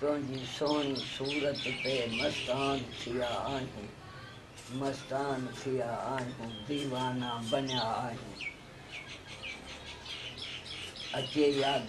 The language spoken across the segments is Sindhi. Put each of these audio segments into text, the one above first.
تنهنجي سهڻي صورت تي مستان ٿيا آهيون مستان ٿيا آهيون ديوانا بنيا آهيون اچي ياد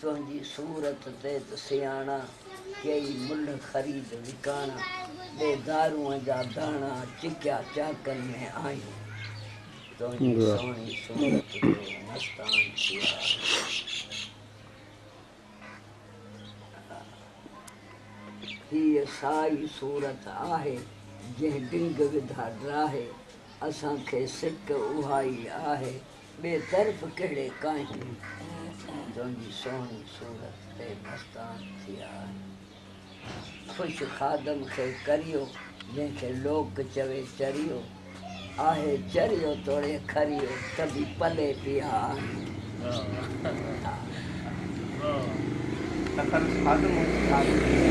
تنهنجي صورت تي ته سياڻا، ڪيئي ملهه خريد وڪاڻا، ڏي دارونء جا داڻا، چڪيا چاڪن ۾ آهيون. تنهنجي سهڻي صورت جو مستان ٿي آهيون. هيء سائي صورت آهي، جنهن ڊنگ وڌا ڊاهي، اسان کي سڪ اهائي آهي، ٻئي طرف ڪهڙي ڪاهني تنهنجي سهڻي صورت تي مستان ٿيا آهن. خوش خادم کي ڪريو، جنهن کي لوڪ چوي چريو. آهي چريو توڙي کريو ته به پلي پيا آهن. سکر خادم هو ته ڇا ٿي ويو.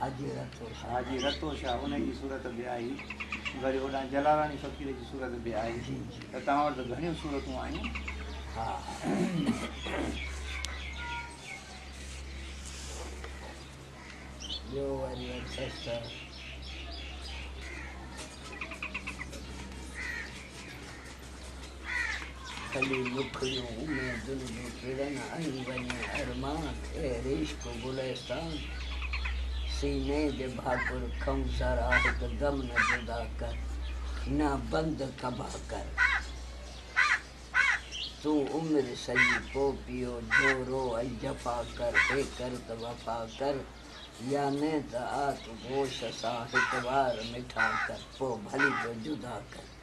حاجي رتو شاهه. حاجي رتو شاهه ان جي صورت به آئي وري هوڏانهن جلاراڻي فقير جي صورت به آئي جي جي ته توهان وٽ ته گهڻيون صورتون آيون. ها ٻيو وري اٿس ته کلي مکڙيون اميدن جون ڪرن ۽ وڃي ارمان اهڙي عشق گلستان سيني جي ڀاڪر کئون ذرا هڪ دم نه جدا ڪر نه بند ڪبا ڪر تون عمر سڄي پو پيو جو رو ۽ جفا ڪر اي ڪر ته وفا ڪر يا نه ته آت گوش سان هڪ وار مٺا ڪر پو ڀلي جو جدا ڪر.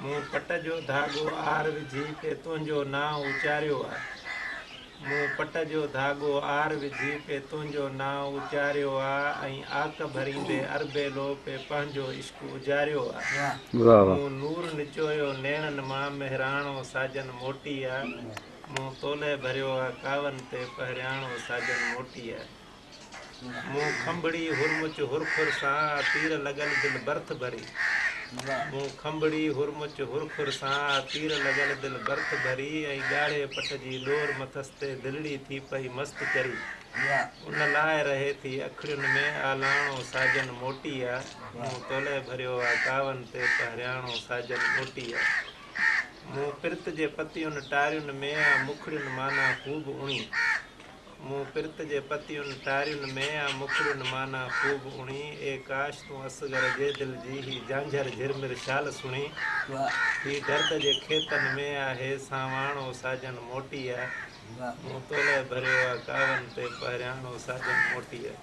مون پٽ جو ڌاڳو آھر وجھي پي تنھنجو نانء اچاريو آ مون پٽ جو ڌاڳو آھر وجھي پي تنھنجو نانء اچاريو آ ۽ آڪ ڀريندي اربيلو پي پنھنجو عشق اجاريو آ مون نور نچويو نيڻن مان مھراڻو ساجن موٽي آ مون تولئه ڀريو آ ڪاون تي پھرياڻو ساجن موٽي آ. مون کنڀڙي هرمچ هرخر سان، تير لڳل دل برٿ ڀري. مون کنڀڙي هرمچ هرخر سان، تير لڳل دل برٿ ڀري. ۽ ڳاڙهي پٽ جي ڏور مٿس تي، دلڙي ٿي پئي مست چري. ان لاء رهي ٿي اکڙين ۾، آلاڻو ساجن موٽي آ. مون تولئي ڀريو آ ڪاون تي، پهرياڻو ساجن موٽي آ. مون پرت جي پتيون ٽارين ۾، آ مکڙين معنيٰ خوب اڻي. مون پرت جي پتيون ٽارين ۾ يا مکڙين معنيٰ خوب اڻي، اي ڪاش تون اصغر جي دل جي هي جهانجهر جهرمر شال سڻي، هي درد جي کيتن ۾ يا هي سانواڻو ساجن موٽي آ، مون تولئه ڀريو آ ڪاون تي پهرياڻو ساجن موٽي آ.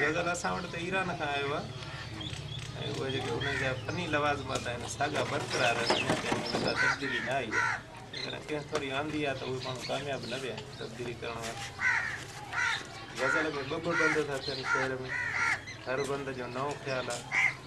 غزل اسان وٽ ته ايران کان آيو آهي ۽ اهي جيڪي انهن جا فني لوازمات آهن ساڳا برقرار آهن انهن ۾ ڪا تبديلي نه آئي آهي جيڪڏهن ڪنهن ٿوري آندي آهي ته اهي ماڻهو ڪامياب نه ويا آهن تبديلي ڪرڻ وارا غزل ۾ ٻه ٻه بند ٿا ٿين شعر ۾ هر بند جو نئون خيال آهي